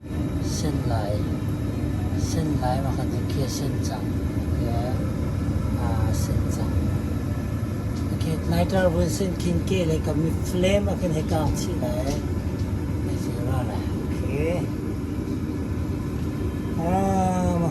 Sen lai, sen lai pakhat a khe sen cang, a khe aa sen cang. Okay, Naiter vun sen khin ke le ka mi flame ah khin hei kaang chih lai. Hei si ra lai. Okay. Ah,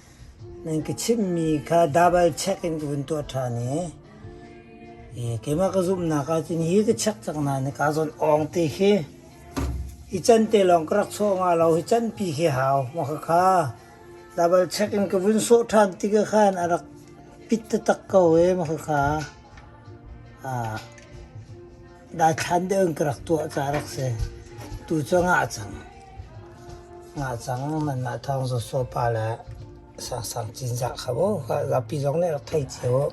Nan ka chimhmi kha double check in ka vun tuah ṭhan i keimah ka zumhnak ahcun hi ka check cang nain kaa zawnh awng ti khi hi can te lawng ka rak sawh nga lo hi canpi khi hau ma khakha double check in ka vun sawh ṭhan tikah khan a rak pit taktak ko ee ma khakha. Daithlan deuh in ka rak tuah ca rak si. Tu cu nga a cang. Nga a cang. Manmah thawng Zo Suo pa le Sang Sang Cin Za kha bu. Zapi zong nih rak thei cio.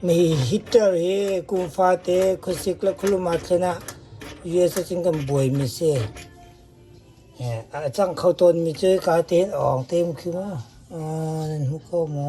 Mi hitter hi kum fate khusik le khuluma thlen ah US a cin kan buaimi si. A cang kho tawnmi cu ka tein awng teim khi mu. Nan hmu ko mu.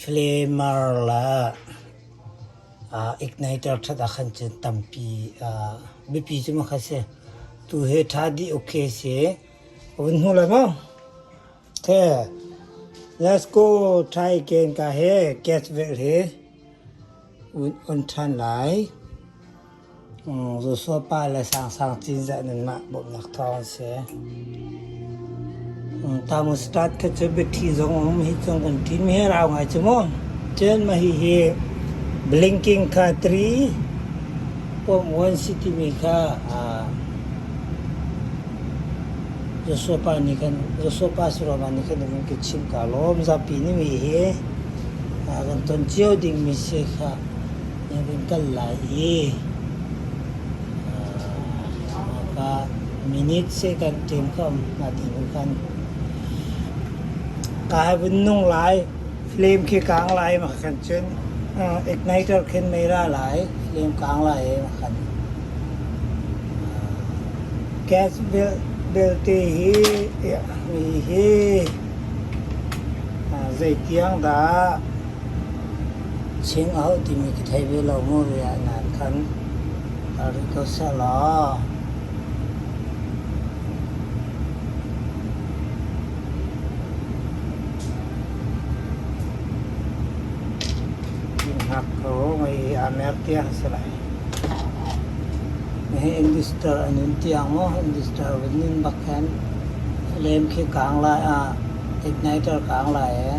Hliamar le aa igniter ṭhat ahkhan cun tampi biapi cu maw kha si. Tu hi ṭha dih uk khi a si. A vun hmu lai maw? Te, let's go try again ka hi gas velh hi vun on ṭhan lai. Zusul pa le Sangsang Cinzah nanmah bawmhnak thawng an si. Tamustat kha cu biathli zong um hi cung kan ṭim hi rau ngai cu mu. Chen ma hi hi blinking kha tri pom wan si timi kha Zusul pa nih khan Zusul pa Surovan nih khan vun ka chimh ka lawm zapi nih mi hi kan ton cio dingmi si kha Na vun kal lai i ka minute se kan ṭem kho na ti bu khan ka hai vun nung lai flame khi kang lai ma kan chun igniter khin meira lai flame kang lai ma kan gas belte hi mi hi zeitiang dah Chingau timi ka thei ve lo maw riah nan khan. Kaa rit ko seh law. Inn-hak ko ngei i aa mer tiang a si lai. Nihi Investor an in tiang maw, Investor vun ning bak khan lem khi kaang lai ah, igniter kaang lai ee.